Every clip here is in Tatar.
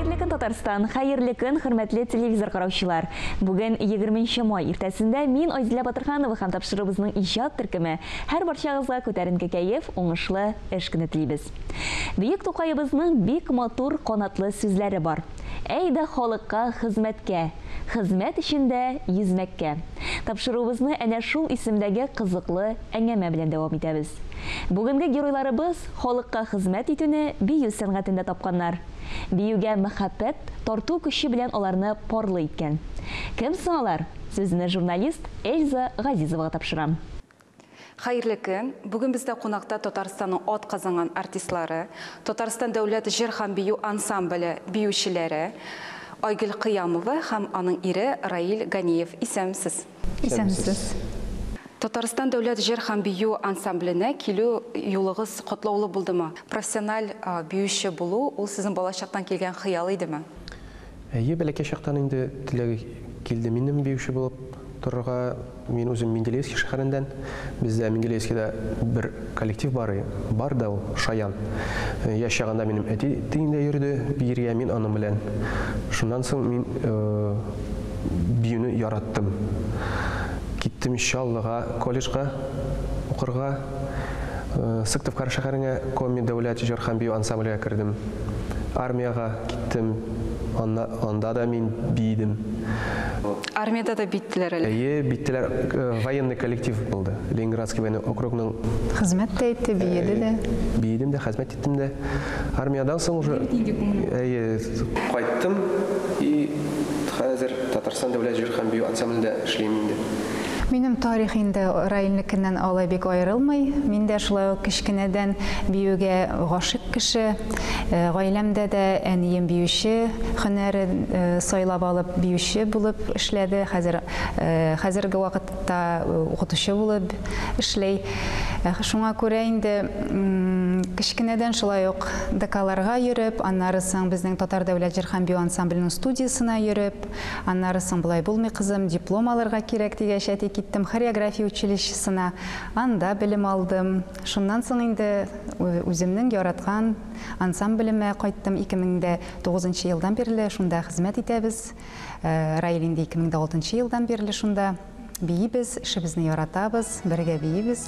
Хәерле көн, Татарстан! Хәерле көн, хөрмәтле телевизор караучылар! Бүген 20 нче май иртәсендә мин Айзилә Батырханова һәм тапшыруыбызның иҗат төркеме һәрбарчагызга күтәренке кәеф, уңышлы эш көне телибез. Бөек Тукаебызның бик матур, канатлы сүзләре бар. Әй дә халыкка хезмәткә, хезмәт өчен дә йөзмәккә! Тапшыруыбызны әнә шул исемдәге кызыклы әңгәмә белән дәвам итәбез. Бүгенге геройларыбыз, Халыкка хезмәт итүне бию сәнгатендә тапканнар. Биюгә мәхәббәт, тарту көче белән аларны парлы иткән. Кем соң алар? Сүзне журналист Эльза Газизовага тапшырам. Хәерле көн! Бүген бездә кунакта Татарстанның атказанган артистлары, Татарстан дәүләт җыр һәм бию ансамбле биючеләре Айгөл Кыямова һәм аның ире Раил Ганиев. Исәнмсез! Исәнмесез! Татарстан дәүләт җыр һәм бию ансамбленә килү юлыгыз катлаулы булдымы? Профессиональ биюче булу, ул сезнең балачактан килгән хыял идеме? Әйе, бәләкәй чактан инде теләге килде минем биюче булып торырга. Мин үзем Менделеевский шәһәреннән. Бездә Менделеевскийда бер. Коллектив бары бар да ул, шаян. Яшь чагында минем әти тиңдә йөрде биергә, мин аның белән. Шуннан соң мин биюне яраттым. Киттем Чаллыга колледжга укырга. Сыктывкар шәһәренә Коми дәүләт җыр һәм бию ансамблегә кердем. Армиягә киттем, анда да мин биидем. Армиядә дә биттеләр әле. Әйе, биттеләр. Военный коллектив булды. Ленинградский военный округның. Хезмәт тә итте, биеде дә. Биедем дә, хәзмәт иттем дә. Армиядән соң уже. Бик инде күңелле. Әйе. Кайттым и хәзер Татарстан дәүләт җыр һәм бию ансамблендә эшлим инде. Минем тарих инде Раилнекеннән алай бик аерылмый. Мин дә шулай ук кечкенәдән биюгә гашыйк кеше. Гаиләмдә дә әнием биюче, һөнәрен сайлап алып, биюче булып эшләде, хәзер хәзерге вакытта укытучы булып эшли. Шуңа күрә инде кечкенәдән шулай ук ДКларга йөреп, аннары соң безнең Татар дәүләт җыр һәм бию ансамбленең студиясенә йөреп, аннары соң болай булмый, кызым, диплом алырга кирәк дигәч, әти, киттем хореография училищесына, анда белем алдым. Шуннан соң инде үземнең яраткан ансамблемә кайттым. 2009 елдан бирле шунда хезмәт итәбез. Раил инде 2006 елдан бирле шунда. Биибез, эшебезне яратабыз, бергә биибез.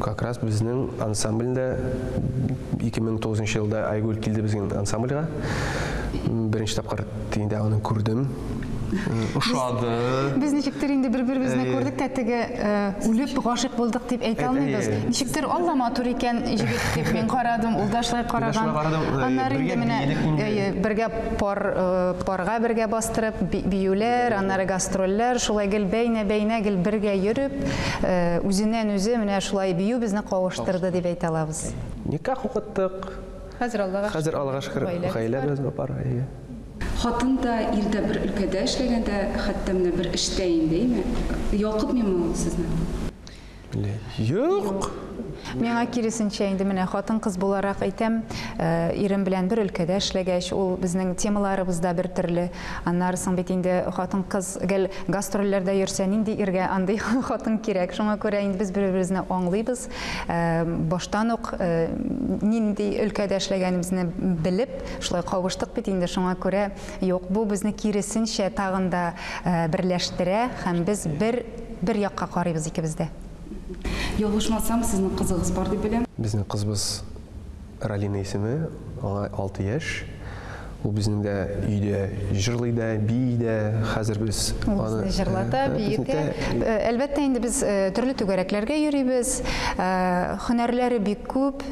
Как раз безнең ансамбльдә 2009 нчы елда Айгөл килде безнең ансамбльга. Беренче тапкыр инде аны күрдем. Ошады. Без ничектер инде бер-беребезне күрдек тә теге үлеп гашыйк булдык дип әйтә алмыйбыз. Ничектер Алла матур икән җегет дип мин карадым, ул да шулай караган. Аннары инде менә әйе, бергә пар парга бергә бастырып биюләр, аннары гастрольләр, шулай гел бәйнә-бәйнә гел бергә йөреп, Үзеннән үзе менә шулай бию безне кавыштырды дип әйтә алабыз. Никах укыттык. Хәзер Аллага шөкер. Хәзер Аллага шөкер гаиләбез бар. Хатын да, ир дә бер өлкәдә эшләгәндә, хәтта менә бер эштә инде, әйме? Ялкытмыймы ул сезне? Юк! Миңа киресенчә инде менә хатын-кыз буларак әйтәм, э, ирем белән бер өлкәдә эшләгәч, ул безнең темаларыбыз да бер төрле. Аннары соң бит инде хатын-кыз гел гастрольләрдә йөрсә, нинди иргә андый хатын кирәк. Шуңа күрә инде без бер-беребезне аңлыйбыз. Э, баштан ук э, нинди өлкәдә эшләгәнебезне белеп, шулай кавыштык бит инде. Шуңа күрә юк, бу безне киресенчә тагын да э, берләштерә һәм без бер бер якка карыйбыз икебез дә. Ялгышмасам, сезнең кызыгыз бар дип беләм. Безнең кызыбыз Ралина исеме, аңа алты яшь. Ул безнең дә өйдә җырлый да, бии дә. Хәзер без аны Ул безне җырлата, бии дә. Әлбәттә, инде без төрле түгәрәкләргә йөрибез. Һөнәрләре бик күп.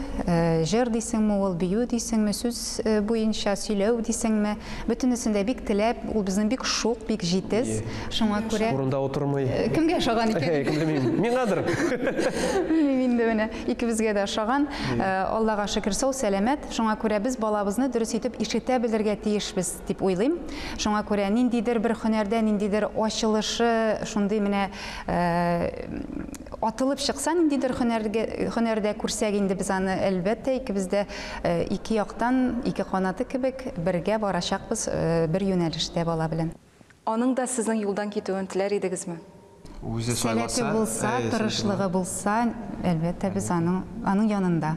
Җыр дисеңме ул, бию дисеңме, сүз буенча сөйләү дисеңме. Бөтенесен дә бик теләп, ул безнең бик шук, бик җитез. Шуңа күрә... Урында утырмый. Кемгә ошаган икән? Әй, кем белмим. Миңадыр. Белмим инде менә. Икебезгә дә ошаган. Аллага шөкер, сау-сәламәт. Шуңа күрә без балабызны дөрес итеп ишетә белергә тиешбез, дип уйлыйм. Шуңа күрә ниндидер бер һөнәрдә, ниндидер ачылышы, шундый менә Атылып чыкса, ниндидер һөнәргә, һөнәрдә күрсәк инде без аны, әлбәттә, икебез дә ике яктан, ике канаты кебек, бергә барачакбыз бер юнәлештә бала белән. Аның да сезнең юлдан китүен теләр идегезме? Үзе сайласа, Сәләте булса, тырышлыгы булса, әлбәттә, без аның, аның янында.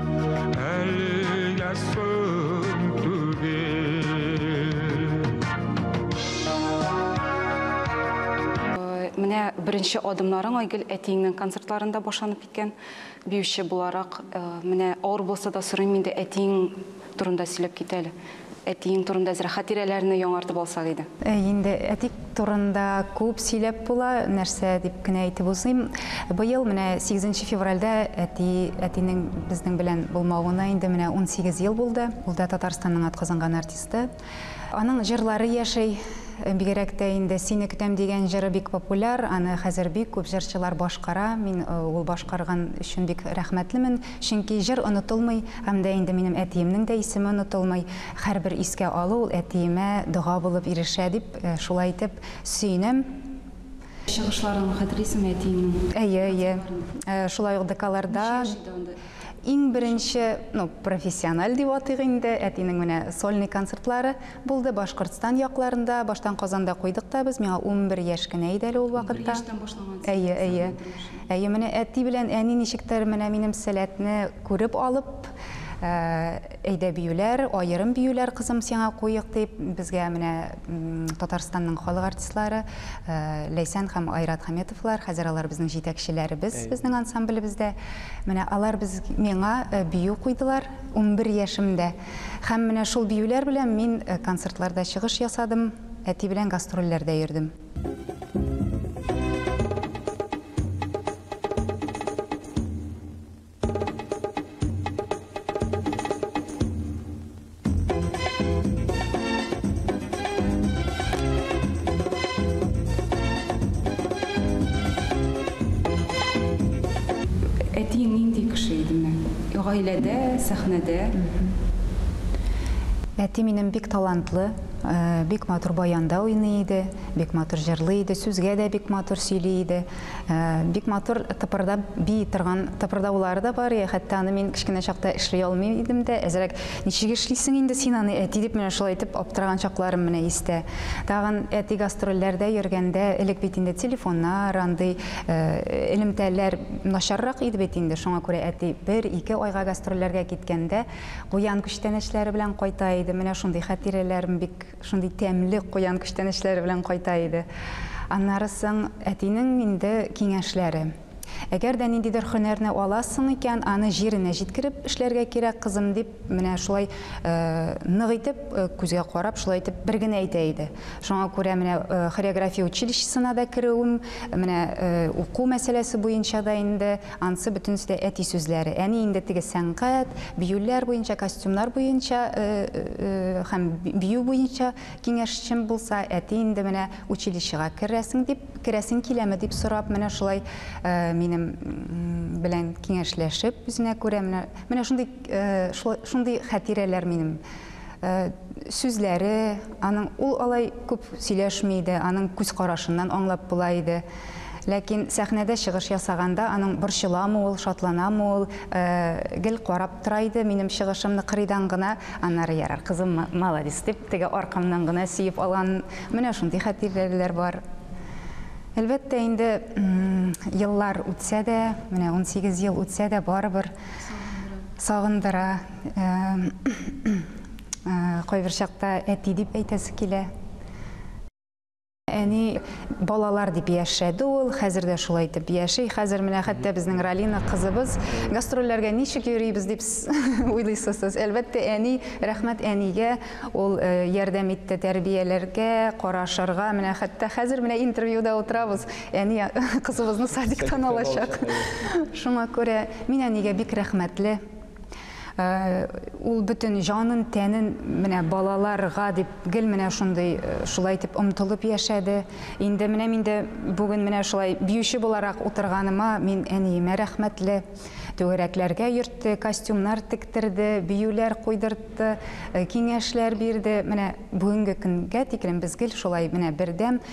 беренче адымнарың Айгөл әтиеңнең концертларында башланып киткән. Биюче буларак, э, менә авыр булса да сорыйм инде әтиең турында сөйләп кит әле. Әтиең турында зрә хатирәләрне яңартып алсак иде. Әй, инде әти турында күп сөйләп була, нәрсә дип кенә әйтеп узыйм. Быел менә сигезенче февральдә әти, әтинең безнең белән булмавына инде менә унсигез ел булды. Ул да Татарстанның атказанган артисты. Аның җырлары яши. Бигрәк тә инде Сине көтәм дигән җыры бик популяр, аны хәзер бик күп җырчылар башкара. Мин ул башкарган өчен бик рәхмәтлемен. Чөнки җыр онытылмый, һәм дә инде минем әтиемнең дә исеме онытылмый. Һәрбер искә алу ул әтиемә дога булып ирешә, дип, шулай итеп, сөенәм. Чыгышларын хәтерлисеңме әтиеңнең? Әйе, әйе. Шулай ук ДКларда. Ничә яшь иде анда? Иң беренче, ну, профессиональ дип атыйк инде, әтинең менә сольный концертлары. Булды Башкортстан якларында, баштан Казанда куйдык та без, миңа унбер яшь кенә иде әле ул вакытта. Унбер яшьтән башлагансыз. Әйе, әйе. Әйе, менә әти белән әни ничектер менә минем сәләтне күреп алып, әйдә биюләр, аерым биюләр кызым сиңа куйыйк дип, безгә менә Татарстанның халык артистлары Ләйсән һәм Айрат Хаметовлар, хәзер алар безнең җитәкчеләребез безнең ансамблебездә. Менә алар без миңа бию куйдылар унбер яшемдә. Һәм менә шул биюләр белән мин концертларда чыгыш ясадым, әти белән гастрольләрдә йөрдем. Гаиләдә, сәхнәдә. Әти минем бик талантлы, бик матур баянда уйный иде, бик матур җырлый иде, сүзгә дә бик матур сөйли иде. Бик матур тыпырдап бии торган тыпырдаулары да бар иде. Хәтта аны мин кечкенә чакта эшли алмый идем дә, әзрәк ничек эшлисең инде син аны, әти, дип менә шулай итеп аптыраган чакларым менә истә. Тагын әти гастрольләрдә йөргәндә, элек бит инде телефоннар, андый Элемтәләр начаррак иде бит инде, шуңа күрә әти бер-ике айга гастрольләргә киткәндә, куян күчтәнәчләре белән кайта иде. Менә шундый хәтирәләрем бик шундый тәмле куян күчтәнәчләре белән кайта иде. Аннары соң әтинең инде киңәшләре. Әгәр дә ниндидер һөнәрне аласың икән, аны җиренә җиткереп эшләргә кирәк, кызым, дип, Менә шулай нык итеп, күзгә карап, шулай итеп бер генә әйтә иде. Шуңа күрә менә хореография училищесына да керүем, менә уку мәсьәләсе буенча да инде ансы бөтенесе дә әти сүзләре. Әни инде теге сәнгать, биюләр буенча, костюмнар буенча һәм бию буенча киңәшчем булса, әти инде менә училищега керәсең дип, керәсең киләме дип сорап, менә шулай минем белән киңәшләшеп, үзенә күрә менә шундый Шундый хәтирәләр минем. Сүзләре аның, ул алай күп сөйләшми иде, аның күз карашыннан аңлап була иде. Ләкин сәхнәдә чыгыш ясаганда аның борчыламы ул, шатланамы ул, гел карап тора иде минем чыгышымны кырыйдан гына, аннары ярар, кызым, маладис, дип, теге аркамнан гына сөеп алган, менә шундый хәтирәләр бар. Әлбәттә инде, еллар үтсә дә, менә унсигез ел үтсә дә, барыбер. Сагындыра. Кайбер чакта әти дип әйтәсе килә. Әни балалар дип яшәде ул, хәзер дә шулай итеп яши. Хәзер менә хәтта безнең Ралина кызыбыз гастрольләргә ничек йөрибез дип уйлыйсыз сез? Әлбәттә, әни, рәхмәт әнигә, ул ярдәм итте тәрбияләргә, карашырга. Менә хәтта хәзер менә интервьюда утырабыз. Әни кызыбызны садиктан алачак. Шуңа күрә мин әнигә бик рәхмәтле. Ул бөтен җанын, тәнен менә балаларга дип гел менә шундый шулай итеп омтылып яшәде. Инде менә мин дә бүген менә шулай биюче буларак утырганыма мин әниемә рәхмәтле. Түгәрәкләргә йөртте, костюмнар тектерде, биюләр куйдыртты, киңәшләр бирде. Менә бүгенге көнгә тиклем без гел шулай менә бердәм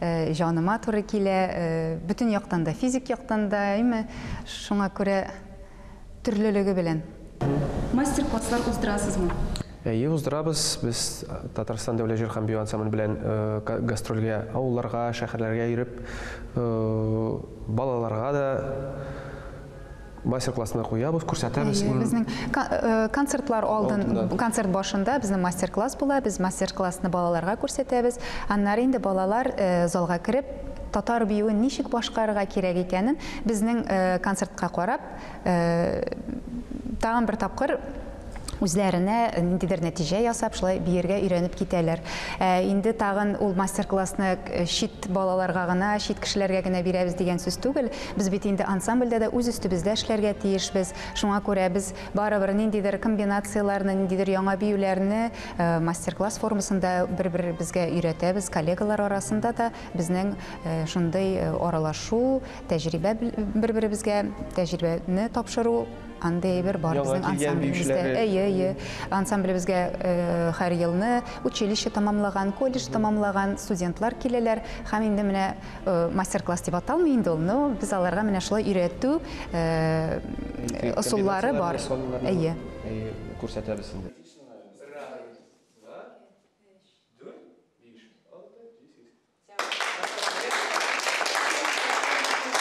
җаныма туры килә, бөтен яктан да, физик яктан да, әйме, шуңа күрә төрлелеге белән. Мастер-класслар уздырасызмы? Әйе, уздырабыз. Без Татарстан дәүләт җыр һәм бию ансамбле белән гастрольгә, авылларга, шәһәрләргә йөреп, балаларга да мастер-классны куябыз, күрсәтәбез. Әйе, безнең э, концертлар алдын, концерт башында безнең мастер-класс була, без мастер-классны балаларга күрсәтәбез. Аннары инде балалар э, залга кереп, татар биюен ничек башкарырга кирәк икәнен безнең э, концертка карап, тагын бер тапкыр үзләренә ниндидер нәтиҗә ясап, шулай биергә өйрәнеп китәләр. Ә инде тагын ул мастер-классны э, чит балаларга гына, чит кешеләргә генә бирәбез дигән сүз түгел. Без бит инде ансамбльдә дә үз өстебездә эшләргә тиешбез. Шуңа күрә без барыбер ниндидер комбинацияләрне, ниндидер яңа биюләрне э, мастер-класс формасында бер-беребезгә өйрәтәбез. Коллегалар арасында да безнең э, шундый аралашу, тәҗрибә бер-беребезгә тәҗрибәне тапшыру Андый әйбер бар Яңа безнең килгән ансамблебездә. биючеләре. Әйе, әйе. Ансамблебезгә э, һәр елны училище тамамлаган, колледж тамамлаган студентлар киләләр һәм инде менә э, мастер-класс дип аталмый инде ул, но без аларга менә шулай өйрәтү э, ысуллары Комбинацияләр бар. ясалуларны, Әйе. әйе, күрсәтәбез инде.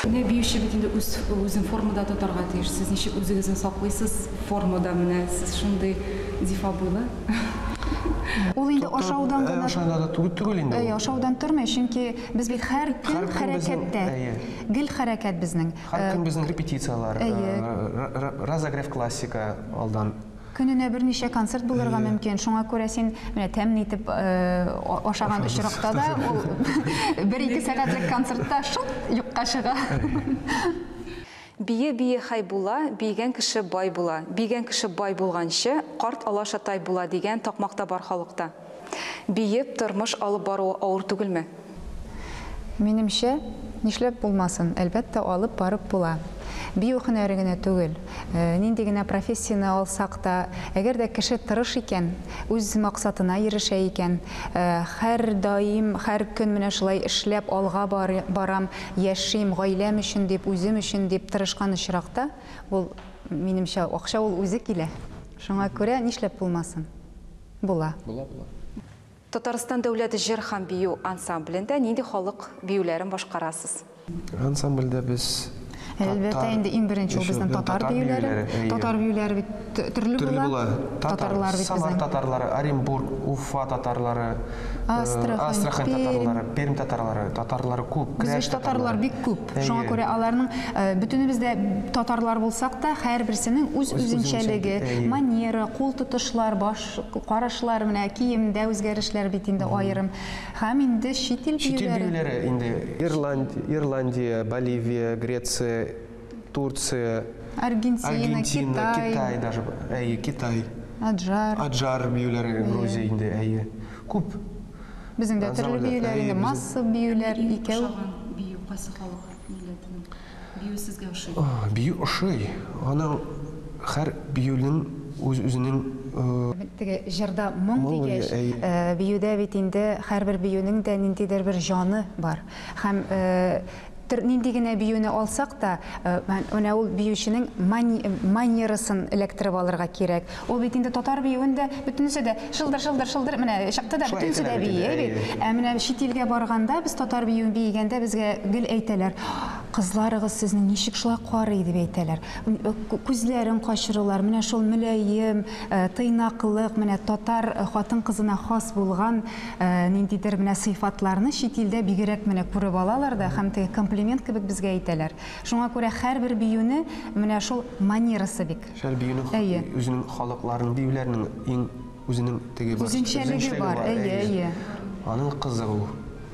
Менә биюче бит инде үз үзен формада тотарга тиеш. Сез ничек үзегезне саклыйсыз формада менә сез шундый зифа буйлы. Ул инде ашаудан Ә, гына ашаудан да түгел- түгел инде Әйе, ул. ашаудан тормый, чөнки без бит һәр көн Һәр көн безнең- хәрәкәттә. әйе. Гел хәрәкәт безнең. Һәр Э, көн безнең репетицияләр, Әйе. э, ра- ра- разогрев классика алдан. Көненә берничә концерт булырга мөмкин, шуңа күрә син менә тәмле итеп ашаган очракта да ул бер-ике сәгатьлек концертта шуп, юкка чыга. Бии бии хәй була, биегән кеше бай була, биегән кеше бай булганчы, карт алаша тай була дигән такмак та бар халыкта. Биеп тормыш алып бару авыр түгелме? Минемчә, нишләп булмасын, әлбәттә, алып барып була. Бию һөнәре генә түгел, нинди генә профессияне алсак та, әгәр дә кеше тырыш икән, үз максатына ирешә икән, һәрдаим, һәр көн менә шулай эшләп, алга барам, яшим, гаиләм өчен дип, үзем өчен дип тырышкан очракта, ул, минемчә, акча ул үзе килә. Шуңа күрә, нишләп булмасын? Була. Була, була. Татарстан дәүләт җыр һәм бию ансамблендә нинди халык биюләрен башкарасыз? Ансамбльдә без Әлбәттә, инде иң беренче ул безнең татар биюләре. Татар биюләре бит төрле була. Төрле була. Татарлар бит безнең. Самар татарлары, Оренбург, Уфа татарлары, Астрахань татарлары, Пермь татарлары, татарлары күп. Без татарлар бик күп. Шуңа Әйе. күрә аларның э, бөтенебез дә татарлар булсак та, һәрберсенең үз үзенчәлеге, әйе. манера, кул тотышлар, баш карашлар, менә киемдә үзгәрешләр бит инде аерым. Һәм инде чит ил Чит ил биюләре. биюләре инде Ирланд, Ирландия, Боливия, Греция, Турция, Аргентина, Аргентина, Китай, Китай даже, б- әйе, Китай, Аджар. Аджар биюләре, Грузия инде, әйе. Күп. Безнең дә төрле биюләр инде, массовый биюләр, икәү. Кайсы ошаган бию, кайсы халык милләтенең биюе сезгә ошый? Бию ошый. Аның һәр биюнең үз-үзенең. Теге җырда моң дигәч, биюдә бит инде һәрбер биюнең дә ниндидер бер җаны бар. Һәм Төр нинди генә биюне алсак та, менә ул биюченең манерасын эләктереп алырга кирәк. Ул бит инде татар биюен дә бөтенесе дә шылдыр, шылдыр, шылдыр менә чыкты да бөтенесе дә бии бит. Ә менә чит илгә барганда без татар биюен биегәндә безгә гел әйтәләр, кызларыгыз сезнең ничек шулай карый дип әйтәләр. Күзләрен качырулар, менә шул мөләем, тыйнаклык, менә татар хатын-кызына хас булган Ә, ниндидер менә сыйфатларны чит илдә бигерәк менә күреп алалар да һәм теге комплимент кебек безгә әйтәләр. Шуңа күрә һәрбер биюне менә шул манерасы бик. Һәр биюнең Әйе. үзенең халыкларның, биюләрнең иң үзенең теге бар. Үзенчәлеге бар, әйе, әйе. Аның кыздыру.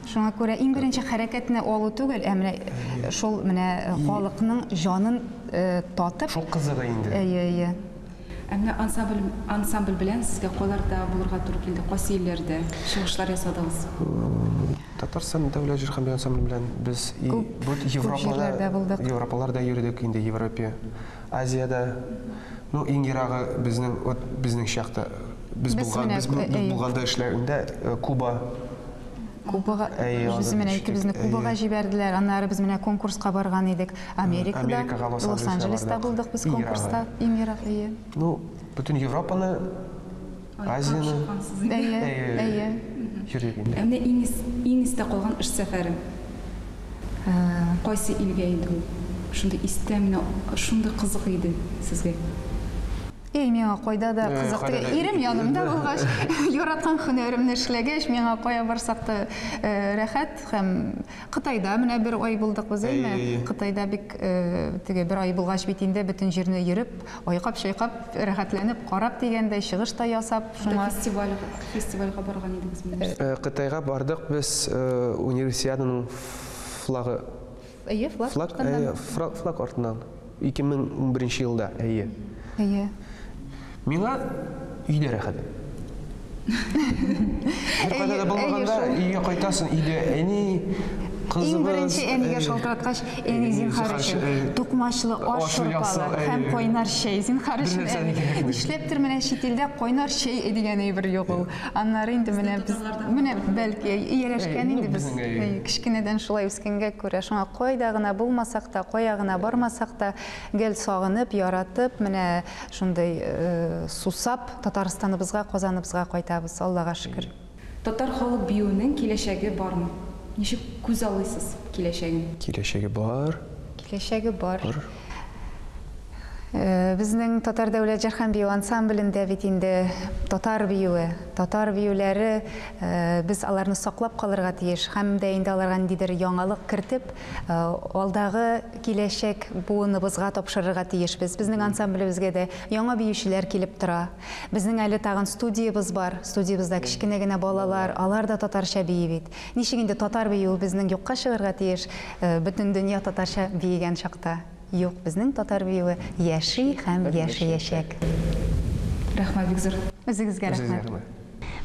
Шуңа күрә иң беренче хәрәкәтне алу түгел, ә менә шул менә халыкның җанын татып. Шул кызыгы инде. Әйе, әйе. Ә менә ансабль ансамбль белән сезгә кайларда булырга туры килде, кайсы илләрдә чыгышлар ясадыгыз? Татарстан дәүләт җыр һәм бию ансамбле белән без и Күп- бу күп Европада җирләрдә булдык. Европаларда йөрдек инде Европе, Азиядә. Ну иң ерагы безнең вот безнең чакта без Без булган менә, без бу- без әйе. булганда эшләгәндә э, Куба. Кубага, без менә икебезне Кубага җибәрделәр, аннары без менә конкурска барган идек Америкада, Лос-Анджелеста булдык без конкурста, иң ерак, әйе. Ну, бөтен Европаны, Азияны, әйе, әйе, йөрдек инде. Менә иң, иң истә калган эш сәфәре, кайсы илгә иде ул? Шундый истә, менә шундый кызык иде сезгә. И, миңа кайда да кызык түгел, ирем янымда булгач, яраткан һөнәремне эшләгәч, миңа кая барсак та рәхәт һәм Кытайда менә бер ай булдык без, әйме? Кытайда бик теге бер ай булгач бит инде бөтен җирне йөреп, айкап-чайкап, рәхәтләнеп карап дигәндәй, чыгыш та ясап, шуңа. Фестиваль, фестивальгә барган идегезме нәрсә? Кытайга бардык без Универсиаданың флагы. Әйе, флаг Флаг, артыннан. әйе, фра- флаг артыннан. 2011 елда, әйе. Әйе. Миңа өйдә рәхәт. Беркайда Әйе, да булмаганда әйе, шул. өйгә кайтасың, өйдә әни, кызыбыз. Иң беренче әнигә әйе. шалтыраткач, әни, зинһар өчен, э, тукмачлы аш аш шурпалар ясау, әйе. һәм кайнар чәй, зинһар Бер өчен, нәрсә әни. дигән. Нишләптер менә чит илдә кайнар чәй дигән әйбер юк ул. Аннары инде менә без менә бәлки ияләшкән инде без кечкенәдән шулай үскәнгә күрә шуңа кайда гына булмасак та, кая гына бармасак та гел сагынып, яратып, менә шундый сусап Татарстаныбызга, Казаныбызга кайтабыз, Аллага шөкер. Татар халык биюенең киләчәге бармы? Ничек күзаллыйсыз киләчәген? Киләчәге бар. Киләчәге бар. Э, безнең татар дәүләт җырхан бию ансамблендә бит инде татар биюе татар биюләре э, без аларны саклап калырга тиеш һәм дә инде аларга ниндидер яңалык кертеп э, алдагы киләчәк буыныбызга тапшырырга тиешбез безнең ансамблебезгә дә яңа биючеләр килеп тора безнең әле тагын студиябез бар студиябездә кечкенә генә балалар алар да татарча бии бит Ничек инде татар биюебезнең юкка чыгарга тиеш, бөтен дөнья татарча биегән чакта? Юк, безнең татар биюе яши һәм яшәячәк. Рәхмәт, бик зур. Үзегезгә рәхмәт.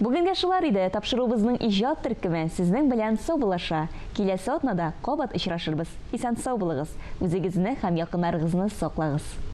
Бүгенгә шулар иде, тапшыруыбызның иҗат төркеме сезнең белән саубулаша. Киләсе атнада кабат очрашырбыз. Исән-сау булыгыз, үзегезне һәм якыннарыгызны саклагыз.